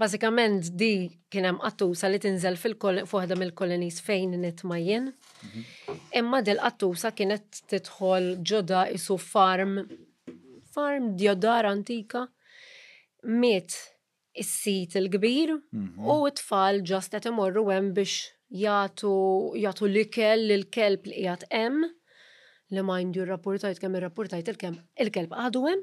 Bażikament di kien hemm qattusa li tinżel f'waħda mill-kolonies fejn nitma' jien. Imma dil qattusa kienet tidħol ġoda isu farm farm djodar antika. Miet is-sid il-kbir u t-tfal ġast qed imorru hemm biex jagħtu jagħtu l-ikel lill-kelb li qiegħed hemm li mind you rrapurtajt kemm irrapurtajt il-kelb għadu hemm.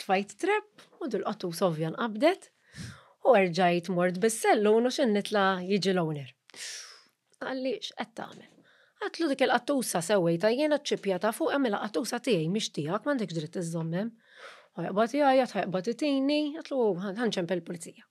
Tfajt trepp u dil-qattus ovvja nqabdet u erġajt mort bis-sellun u x'in nitla' jiġi l-owner. Qalli, X'qed tagħmel? Għedtlu dik il-qattusa sewwejtha jiena ċ-ċipja ta' fuq għamilha qattusa tiegħi mhix tiegħek m'għandekx dritt iżżomm hemm. Ħa joqbad igħajjat ħa joqbad itini, għedtlu hu ħa nċempel il-pulizija.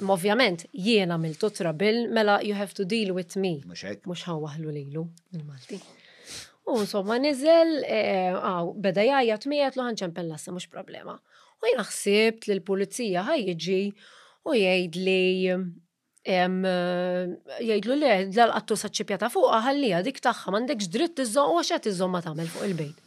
Imma ovvjament jien għamiltu trabil mela you have to deal with me. Mhux hekk. Mhux ħa waħlu lilu il-Malti. U insomma niżel, eh, għaw, beda jgħajjat miegħed lu ħanċempel lassa mhux problema. U jien ħsibt li l-pulizija ħaj jiġi u jgħid li em, eh, jgħidlu le dal-qattu saċċipja ta' fuqha ħallija dik tagħha m'għandekx dritt iżżomm u għax qed iżżomm ma tagħmel fuq il-bejt.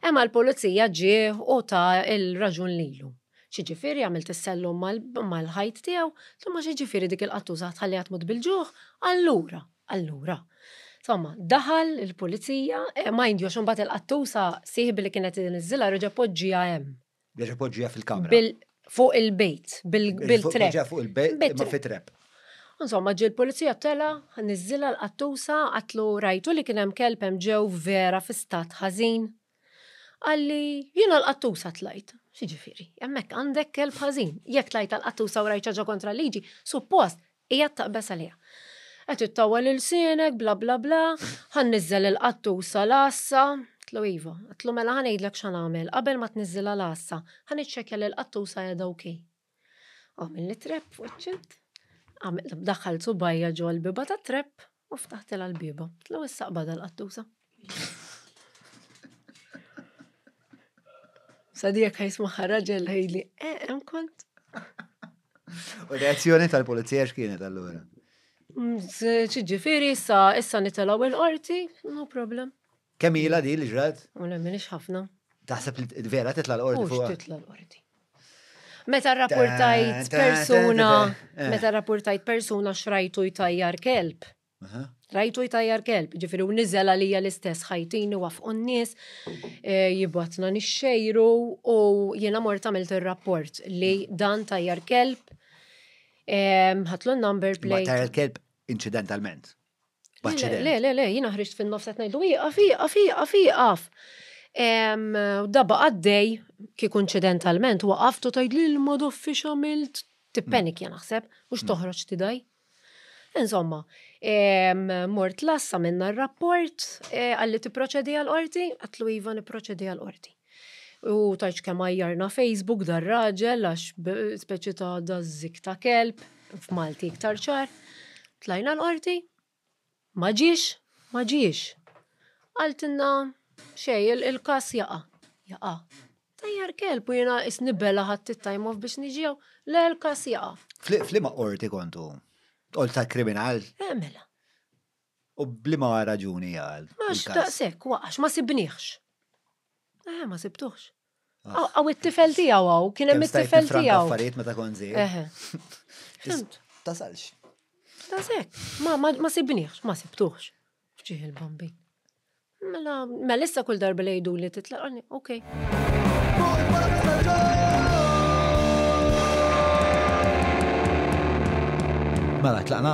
Emma l-pulizija ġieħ u ta' il-raġun lilu. Xiġifieri għamilt is-sellum mal-ħajt tiegħu, somma xiġifieri dik il-qattuża tħalli għad tmut bil-ġuħ, allura, allura. Somma, daħal il-pulizija, ma jindjox imbagħad il-qattuża sieħbi li kienet iniżżilha reġa' poġġieha hemm. Biex poġġija fil-kamra. Fuq il-bejt, bil-trep. Fuq il-bejt, ma fit-trep. Insomma, ġil polizija tela, nizzila l-qattusa, għatlu rajtu li kienem kelpem ġew vera fi stat ħazin. Għalli, jina l-qattusa tlajt. Xieġifiri, jemmek għandek kelb ħazin. Jek tlajt l-qattusa u rajċaġa kontra liġi, suppost Qiegħed taqbeż għaliha. Qed ittawwel ilsienek, bla bla bla, ħa nniżżel il-qattusa l-għassa. Għidtlu iva. Għidtlu mela ħa ngħidlek x'ħa nagħmel, qabel ma tniżżilha l-għassa, ħa niċċekkja li l-qattusa qiegħda ok. Għamilli trap f'wiċċi. Daħħalt subgħajja ġo l-bieba tat-trap, U ftaħtilha l-bieba. Tlu issa qbadha l-qattusa. Sadi jekk ħajsmaħħa raġel ħejli, eh, hemm kont. U reazzjoni tal-pulizija x'kienet allura? Mm, ġifieri issa issa nitelaw il-qorti, no problem. Kemm ilha di li ġrat? U le minix ħafna. Taħseb li vera titla l-qorti fuq. Titla l-qorti. Meta rapportajt persuna, eh. meta rapportajt persuna xrajtu jtajjar kelb. Rajtu jtajjar kelb, ġifiri u nizela li l-istess ħajtini waf n-nis, eh, jibatna nixxejru u jena mort għamilt il-rapport li dan tajjar kelb, eh, ħatlu number plate. Tajjar kelb incidentalment. Le, le, le, jina ħriġt fin-nofs qed ngħidu ieqaf, ieqaf, ieqaf, ieqaf. Daba għaddej kieku inċidentalment waqaf tu tgħid lil ma doffi x'għamilt. Tippenik jien naħseb, mhux mm. toħroġ tidaj. Insomma, mort lassa minna r-rapport eh, għalli tipproċedi għal-qorti, għatlu iva niproċedi għal-qorti. U tajċ kemm għajjarna Facebook dar-raġel għax speċi ta' dażżik ta' kelb f'Malti iktar ċar. Tlajna l-qorti, ma ġiex, ma ġiex. Għaltinna xej il-kas jaqa, jaqa. Tajjar kelb u jena isnibela ħadd it-time off biex niġew, le l-kas jaqa. Flima qorti kontu? Qorti ta' kriminal? Eh, mela. U b'liema raġuni għal. Għax daqshekk wa għax ma sibniehx. Eh, ma sibtuħx. Ah. Għaw it-tifel tiegħu għaw, kien hemm it-tifel tiegħu. Affarijiet meta kon Tasalx. Tasek, ma sibniħx, ma sibtuħx. Ġieħ il-bambin. Mela, mela issa kull darba li jgħidu li titlaqani, okej. Mela, tlaqna?